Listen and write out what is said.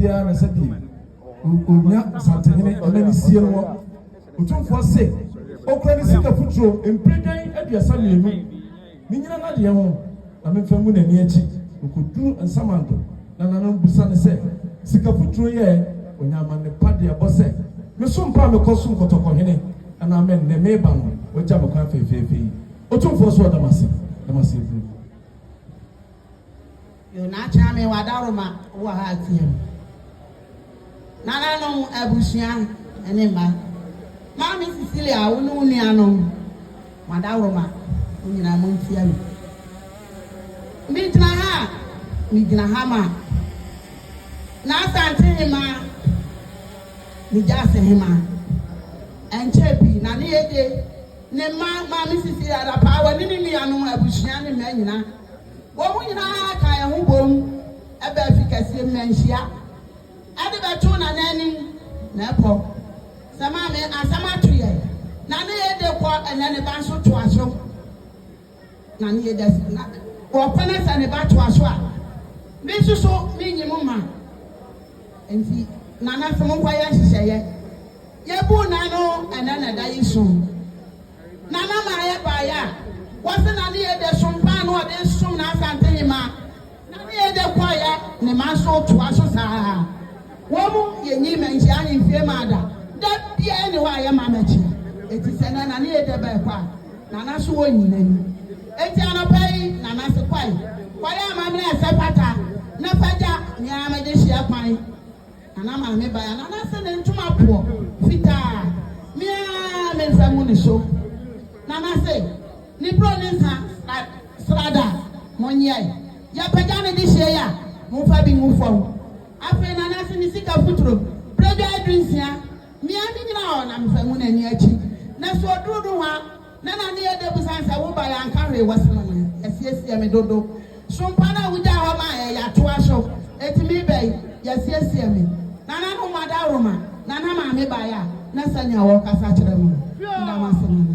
biara na ɛsɛ de onya santenhene ɛna ne sie no wɔ otumfoɔ se okura ne sika futuro mpere dwan aduasa mmienu ne nyina n'adeɛ ho na memfa ngu n'ani akyi okoduru nsamanto na nana busa ne sɛ sika futuro yɛ onya amanne pa de ɛbɔ sɛ meso mpa a mekɔ so nkɔtɔkɔhene anaa me nnɛ meba no wagya me kwan fɛfɛɛfɛ yi otumfoɔ so ɔdamase damase aduru Yo na akyena me wadaroma wɔ ha atia mu nananom abusua ne mma maame Cecilia wo ne wo nuanom wadaroma mo nyinaa mo ntia mu me gyina ha me gyina ha ma na asante hema me gya ase hema ɛnkyɛ pii na ne yɛde ne mma maame Cecilia da paa wɔ ne ne nuanom abusua ne mma nyinaa Wɔn nyinaa kaa yɛn ho boom baa fi kɛseɛ mu na nhyia de bɛtoo Nananim na ɛpɔ sɛ Maame asɛm ato yɛn na ne yɛde kɔ ɛnɛ ne ba nso toa so na ne yɛde asi na wɔpɛ ne sɛ ne ba toa so a me nso so menyi mo ma nti Nana sɛ monkɔ yɛ nhyehyɛeɛ yɛbuu na no ɛnɛ na ɛda yi so. Nana Naayɛ baeɛ a, wɔse Nana Yɛdɛ som paa na ɔde resom no Asantehemaa. Nana Yɛdɛ kɔeɛ, ne mma nso retoa so saa ara. Wɔn yɛnyin manhyia ne mfie maa da. Da biara nni hɔ a yɛmma mɛkye. Enti sɛ nnɛ Nana Yɛdɛ bɛɛkɔ a, Nana so wɔnyi n'ani. Enti anɔpa yi Nana se kɔe, kɔyɛ amammerɛ a ɛsɛ pata, na fa gya, me ara mede hyeɛ kwan. Na na Maame bae a na n'ase ne ntoma poɔ fitaa a me ara me nsa ngu ne so. Na na se, Ne buro ne nsa na srada a monyɛ. Yɛpagya no de hyei a, momfa bi ngu fam. Afei na na se ne sika futuro, berɛdwa aduru nsia. Me ara me gyina hɔ na mefa ngu n'ani akyi. Na so oduru nohoa. Na na ne yɛ dɛ besiane sɛ wo ba yɛanka hwee wɔ se no no yɛasiesie me dodo. So mpa no a wogyae hɔ maa yɛ yɛatoa so enti me ba yi yɛasiesie me. Nananom mo adaworoma na na maame baeɛ a na sɛnea wɔkasa kyerɛ me no nna m'asene no.